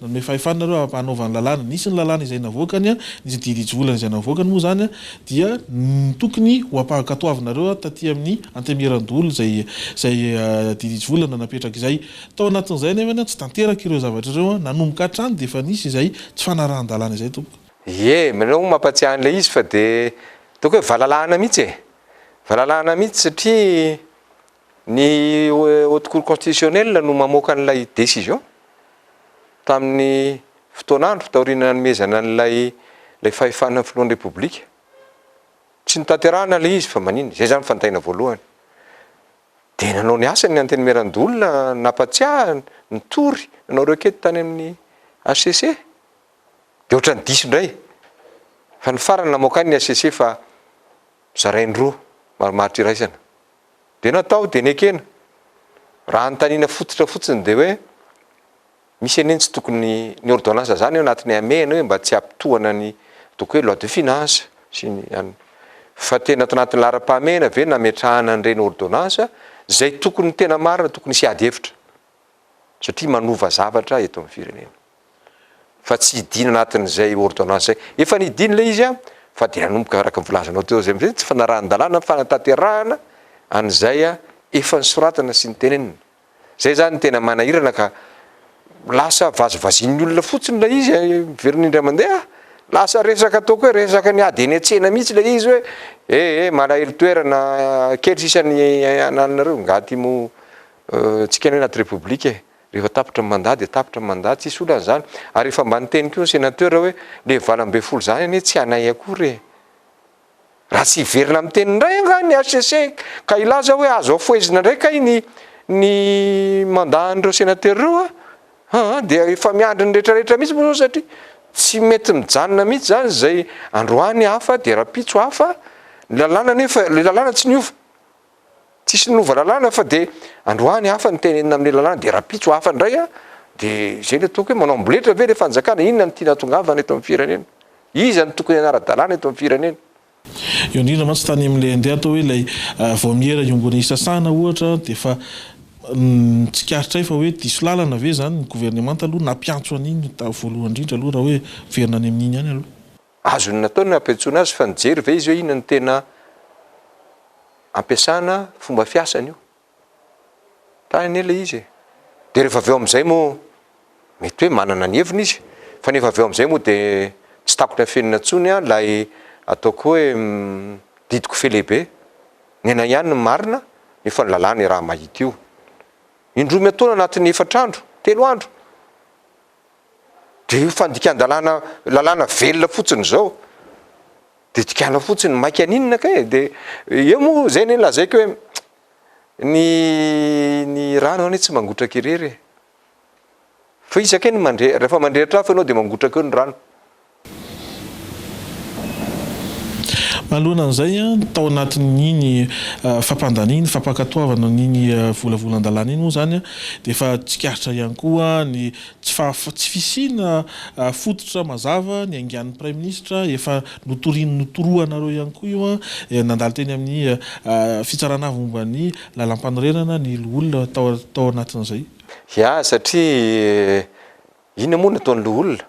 Nanome fahefana nareo hanaovana ny lalàna. Nisy ny lalàna izay navoakany, nisy ny didy ijiolana izay navoakany moa izany dia ny tokony ho ampahankatoavinareo taty amin'ny antemieran-doholona izay izay didy ijiolana napetraka izay. Tao anatin'izay anefany tsy tanteraka ireo zavatra ireo, nanomboka hatrany dia efa nisy izay tsy fanarahan-dalàna izay tompoko. Ie, ianareo hono mampatsiahy an'ilay izy fa dia ataoko hoe valalahana mihitsy e! Valalahana mihitsy satria Ny Haute Cour Constitutionnelle no mamoaka an'ilay décision tamin'ny fotoan'andro taorian'ny nanomezana an'ilay ilay fahefana ny Filohan'ny Repoblika. Tsy notanterahana ilay izy fa maninona? Izay izany fantaina voalohany. Dia nanao ny asany ny Antenimierandoholona, nampatsiahy, nitory, nanao requête tany amin'ny HCC. Dia ohatran'ny diso indray fa ny farany namoaka ny HCC fa zarainy roa, marimaritra iraisana. Dia natao dia nekena. Raha anontaniana fototra fotsiny dia hoe misy anie ny tsy tokony, ny ordonnance zany ao anatin'ny hamehana hoe mba tsy hampitohana ny donc hoe loi de finance sy ny an'ny. Fa tena ato anatin'ny laharam-pahamehana ve nametrahana an'ireny ordonnance izay tokony tena marina tokony hisy ady hevitra. satria manova zavatra eto amin'ny firenena fa tsy hidina anatin'izay ordonnance zay, efa nidina ilay izy an, fa dia nanomboka araka ny volazanao teo zay amizay tsy fanarahan-dalàna ny fanatanterahana an'izay efa nisoratana sy nitenenina, zay zany no tena manahirana ka lasa vazivazian'ny olona fotsiny ilay izy an, miverina indray mandeha, lasa resaka ataoko hoe resaka ny ady eny an-tsena mihitsy ilay izy hoe eh eh malahelo toerana, kely sisa ny anananareo, nga ty moa Tsy kay ny hoe anaty repoblika e! Rehefa tapitra ny mandat dia tapitra ny mandat, tsisy olana izany. Ary efa mba niteny koa ny senateur hoe le valo ambin'ny folo izany anie tsy anay akory e! Raha tsy hiverina miteny indray angaha ny HCC ka hilaza hoe azo afohezina indray kay ny ny mandat an'ireo senateur ireo a! aa! dia efa miandry ny rehetra rehetra mihitsy moa izao satria tsy mety mijanona mihitsy izany izay androany hafa dia rahampitso hafa, ny lalàna anefa, ilay lalàna tsy niova. Tsisy nanova lalàna fa dia androany hafa ny tenenina amin'ny lalàna dia rahampitso hafa indray an! dia izay ilay toaka hoe manao amboletra ve ilay fanjakana? Inona no tiana hatongavana eto amin'ny firenena? Iza no tokony hanara-dalàna eto amin'ny firenena? Eo indrindra mantsy tany amin'ilay andeha atao hoe ilay vaomiera iombon'ny hisasana ohatra dia efa tsikaritra hay fa hoe diso lalana ve izany ny governemanta aloha nampiantso an'iny voalohany indrindra aloha raha hoe miverina any amin'iny ihany aloha. Azony natao ny nampiantsoana azy fa nijery ve izy hoe inona no tena ampiasana fomba fiasany io? Tany anie ilay izy e! Dia rehefa avy eo amin'izay moa mety hoe manana ny heviny izy fa nefa avy eo amin'izay moa dia tsy takon'ny afenina intsony ilay ataoko hoe didy kofehy lehibe, ny anay ihany no marina nefa ny lalàna iraha mahita io. Indroa miantoana anatin'ny efatra andro, telo andro. dia io fandikan-dalàna lalàna velona fotsiny izao dia dikana fotsiny maika aninona kay e, dia eo moa izay anie lazaiko hoe ny ny rano anie tsy mangotraka irery e, fa iza kay no mandre, rehefa mandrehitra afo ianao dia mangotraka eo ny rano. Manoloana an'izay, tao anatin'iny fampandaniana, iny fampankatoavana iny volavolan-dalàna iny moa izany dia efa tsikaritra ihany koa ny tsy fahafa-, tsy fisiana fototra mazava niaingan'ny Praiminisitra, efa notoriny notoroanareo ihany koa io, nandalo teny amin'ny Fitsarana Avo momba ny Lalàmpanorenana ny loholona tao, tao anatin'izay. Ya, satria inona moa no ataon'ny loholona?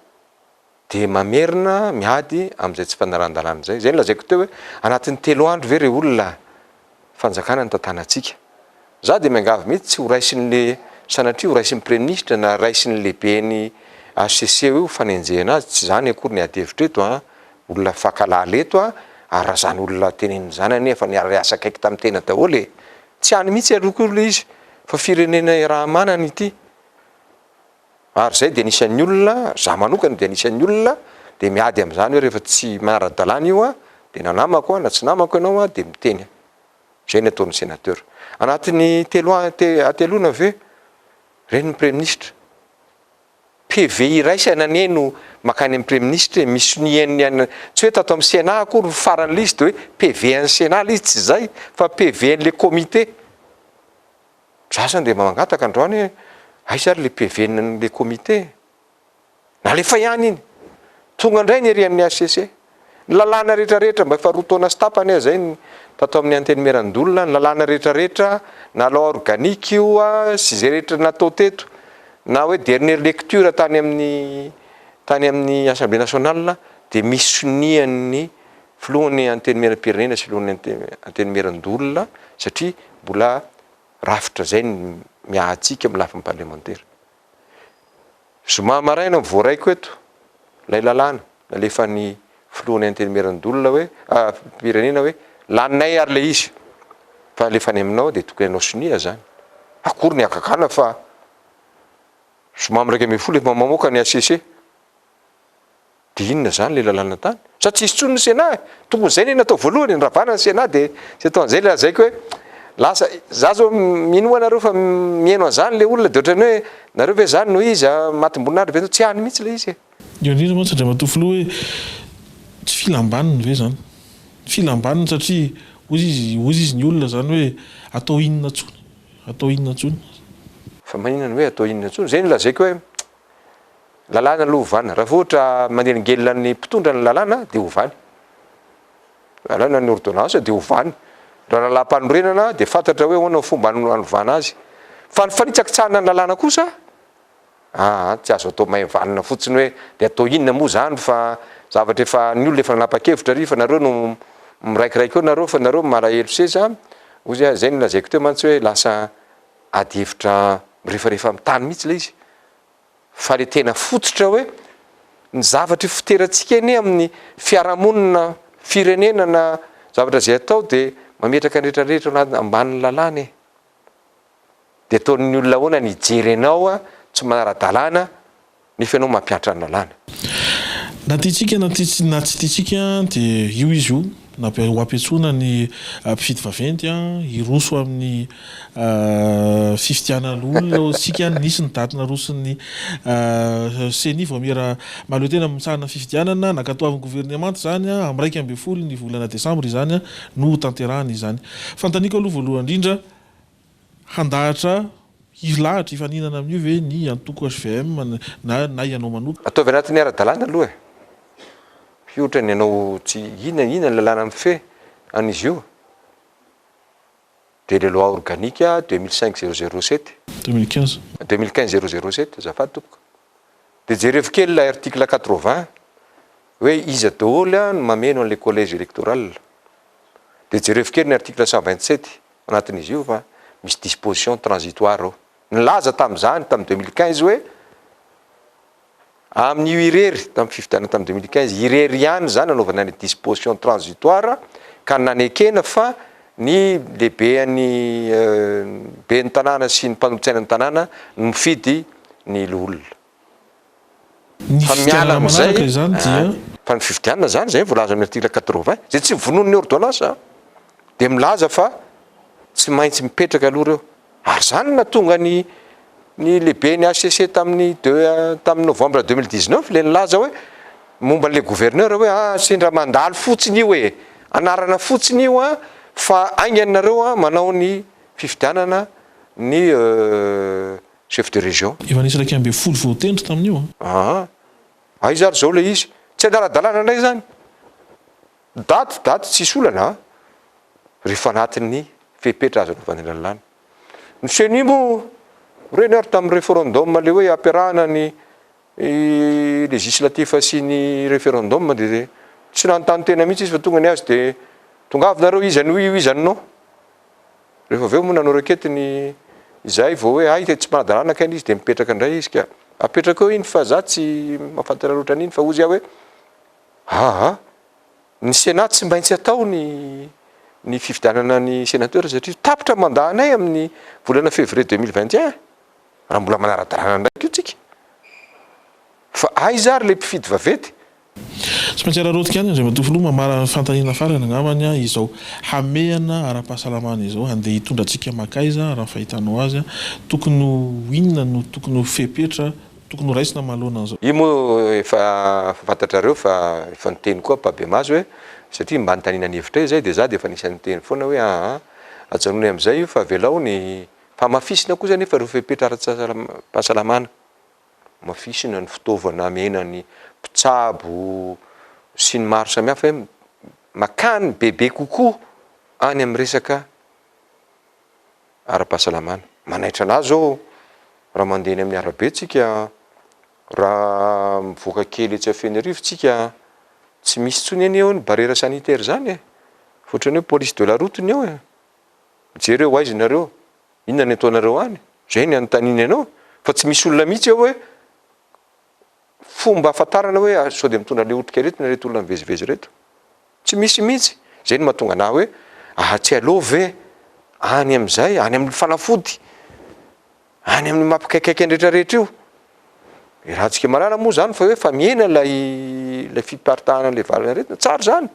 dia mamerina miady amin'izay tsy fanarahan-dalàna izay. Izay nolazaiko teo hoe anatin'ny telo andro ve re olona fanjakana ny tantanantsika. Za dia miangavy mihitsy tsy ho raisin'le sanatria ho raisin'ny praiministra na raisin'ny lehiben'ny HCC io fanenjehana azy, tsy izany akory ny adihevitra eto an, olona fankahalala eto an, ary raha izany olona tenenin'ny zanany efa niara-hiasa akaiky tamin'ny tena daholo e! Tsy any mihitsy aloha koa ilay izy fa firenena iaraha-manana ity. Ary izay dia anisan'ny olona, za manokana dia anisan'ny olona dia miady amin'izany hoe rehefa tsy manara-dalàna io aho dia na namako aho na tsy namako ianao aho dia miteny aho. Izay ny ataon'ny senateur. Anatin'ny telo hateloana ve ireny ny praiminisitra? PV iraisana anie no mankany amin'ny praiminisitra e, misy sonia an'ny an'ny, tsy hoe tato amin'ny Sénat akory ny faran'ilay izy dia hoe PV an'ny Sénat ilay izy, tsy izay fa PV an'ilay comité. Za zany dia mangataka androany hoe aiza ary le PV n'le comité? Nalefa ihany iny. Tonga indray ny irian'ny hcc. Ny lalàna rehetra rehetra mba efa roa taona sy tapany aho zay tato amin'ny Antenimierandoholona, ny lalàna rehetra rehetra, na loi organique io sy izay rehetra natao teto, na hoe dernière lecture tany amin'ny tany amin'ny Assemblée nationale dia misy sonian'ny Filohan'ny Antenimieram-pirenena sy Filohan'ny Antenimieran-doholona satria mbola rafitra izay ny miahatsika amin'ny lafiny parlemantera. Zoma maraina no voaraiko eto ilay lalàna nalefan'ny Filohan'ny Antenimieran-doholona hoe, pirenena hoe laninay ary ilay izy fa alefa any aminao dia tokony anao sonia izany. Akory ny hagagana fa zoma miraika ambin'ny folo efa mamoaka ny HCC. Dia inona izany ilay lalàna tany? Sa tsy hisy intsony ny Sénat e? Tokony izay ilay natao voalohany e, ny ravana ny Sénat dia izay atao an'izay ilay lazaiko hoe lasa, za zao mino moa nareo fa miheno an'izany ilay olona dia ohatran'ny hoe nareo ve izany no izy, matim-boninahitra be, tsy any mihitsy ilay izy e. Io indrindra mantsy Andriamatoa Filoha hoe tsy filam-baniny ve izany? Filam-baniny satria hozy izy, hozy izy ny olona izany hoe atao inona intsony? Atao inona intsony? Fa maninona ny hoe atao inona intsony? Izay no lazaiko hoe lalàna aloha ovana. Raha vao ohatra manelingelina ny mpitondra ny lalàna dia ovany. Lalàna ny ordonnance dia ovany. Raha lalàm-panorenana dia fantatra hoe ahoana ny fomba hanovana azy. Fa ny fanitsakitsahana ny lalàna kosa, aa, tsy azo atao maivanina fotsiny hoe dia atao inona moa izany fa zavatra efa ny olona efa nanapa-kevitra ary fa nareo no miraikiraiky eo nareo fa nareo no malahelo seza, hoy izay no lazaiko teo mantsy hoe lasa ady hevitra mirefarefa amin'ny tany mihitsy ilay izy fa ilay tena fototra hoe ny zavatra ifoterantsika anie amin'ny fiarahamonina, firenena na zavatra izay atao dia mametraka ny rehetrarehetra ambanin'ny lalàna e! Dia ataon'ny olona ahoana ny hijery anao tsy manara-dalàna Nefa ianao mampiantra ny lalàna. Na tiantsika na na tsy tiantsika dia io izy io, na ho ampiantsoina ny mpifidy vaventy hiroso amin'ny fifidianana olona hoy isika, nisy ny daty naroson'ny ceni vao mihera mahaleo tena mitsahana ny fifidianana, nankatoavin'ny governemanta izany, amin'ny iraika ambin'ny folo ny volana desambra izany no hotanterahana izany. Fanontaniako aloha voalohany indrindra, Handahatra hilahatra hifaninana amin'io ve ny antoko hvm na na ianao manokana? Ataovy anatin'ny ara-dalàna aloha e! Io ohatran'ny ianao tsy, inona inona ny lalàna mifehy an'izy io? De le loi organique deux mille cinq zéro zéro sept. Deux mille quinze. Deux mille quinze zéro zéro sept, azafady tompoko. De jerevo kely ilay article quatre vingt hoe iza daholo no mameno an'ilay collège électoral. De jerevo kely ny article cent vingt sept anatin'izy io fa misy disposition transitoire ao. Nilaza tamin'izany tamin'ny deux mille quinze hoe amin'io irery, tamin'ny fifidianana tamin'ny deux mille quinze irery ihany izany nanaovana ny disposition transitoire ka nanekena fa ny lehiben'ny ben'ny tanàna sy ny mpanolotsainan'ny tanàna no mifidy ny loholona. Ny fifidianana manaraka izany dia. Fa ny fifidianana izany, izay voalaza amin'ny article quatre-vingts, izay tsy vonoin'ny ôrdônansa, dia milaza fa tsy maintsy mipetraka aloha ireo. Ary izany no nahatonga ny ny lehiben'ny HCC tamin'ny deux, tamin'ny novembre deux mille dix-neuf ilay nilaza hoe, momba an'ilay gouverneur hoe ah, sendra mandalo fotsiny io e! Anarana fotsiny io an, fa haingana nareo an, manao ny fifidianana ny euh. Chef de région. Efa nisy iraika ambin'ny folo voatendry tamin'io. Aa! Aiza ary izao ilay izy? Tsy adala-dalàna indray izany? Daty, daty tsisy olana an! Rehefa anatin'ny fepetra azo anaovana lalàna. Ny ceni moa, reny ary tamin'ny referendum ilay hoe ampiarahana ny législatif sy ny referendum dia tsy nanontany tena mihitsy izy fa tonga ny azy dia tongavy nareo iza no oui, iza no non? Rehefa avy eo moa nanao rakety ny izay vao hoe hay dia tsy manadalana kay ny izy dia mipetraka indray izy ka apetrako eo iny fa za tsy mafantatra loatra an'iny fa hozy aho hoe aa ny senat tsy maintsy atao ny ny fifidianana ny senateur satria tapitra ny mandat anay amin'ny volana fevrier deux mille vingt et un raha mbola manara-dalàna indray koa tsika fa aiza ary le mpifidy vaventy Tsy maintsy araraotika any Andriamatoa Filoha mamarana ny fanontaniana farany angambany izao hamehana ara-pahasalamana izao handeha hitondra antsika makaiza raha ny fahitanao azy? Tokony ho inona no tokony ho fepetra tokony ho raisina manoloana an'izao? Io moa efa fantatrareo fa efa niteny koa Babemaso hoe satria mba nitaniana ny hevitray izay dia za dia efa anisan'ny niteny foana hoe aa ajanony amin'izay io fa avelao ny fahamafisina kosa anefa ireo fepetra ara-pahasalamana. hamafisina ny fitaovana hamena ny mpitsabo sy ny maro samihafa hoe makany bebe kokoa any amin'ny resaka ara-pahasalamana. Manaitra an'ahy zao raha mandeha eny amin'ny arabe tsika, raha mivoaka kely etsy Fenerivo tsika, tsy misy intsony anie eo ny barrière sanitaire zany e, ohatrany hoe police de la route ny eo e, mijery hoe ho aiza nareo. Inona ny ataonareo any? Izay ny anontaniany anao fa tsy misy olona mihitsy eo hoe fomba ahafantarana hoe sao dia mitondra an'ilay otrika aretina ireto olona mivezivezy ireto. Tsy misy mihitsy. Izay no mahatonga anà hoe ah tsy aleo ve any amin'izay, any amin'ny fanafody, any amin'ny maha mpikaikaika ny rehetrarehetra io. I Ratsikemarara moa izany fa hoe efa mihena ilay ilay fiparitahanan'ilay valanaretina. Tsara izany,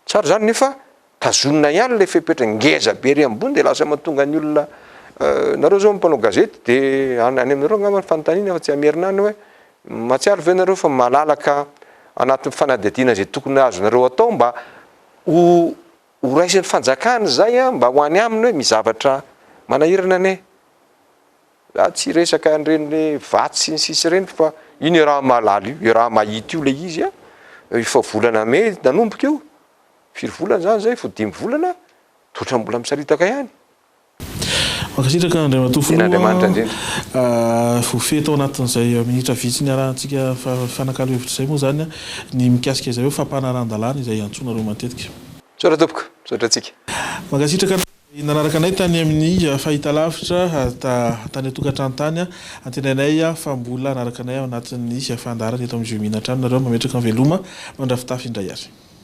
tsara izany nefa tazonina ihany ilay fepetra ngeza be ery ambony dia lasa mahatonga ny olona nareo zao mpanao gazety dia any aminareo angamba ny fanontaniana fa tsy hamerina any hoe mahatsiaro ve nareo fa malalaka anatin'ny fanadihadiana izay tokony azonareo atao mba ho ho raisin'ny fanjakana izay a mba ho any aminy hoe misy zavatra manahirana anie za tsy resaka an'ireny vatsy sy ny sisa ireny fa iny iaraha-mahalala io iaraha-mahita io ilay izy a efa volana mey nanomboka io Firy volana zany zay fo dimy volana de otrany mbola misaritaka ihany. Mankasitraka Andriamatoa Filoha, voafehy tao anatin'izay minitra vitsy niarahantsika mifanakalo hevitra izay moa izany ny mikasika izay hoe fampanaran-dalàna izay iantsoanareo matetika. Misaotra tompoko, misaotra antsika. Mankasitraka anareo nanaraka anay tany amin'ny fahitalavitra tany an-tokantrano tany, antenainay fa mbola hanaraka anay ao anatin'ny fandaharana eto amin'ny Jeux Mines hatrany nareo, mametraka ny veloma, mandrafitafy indray ary.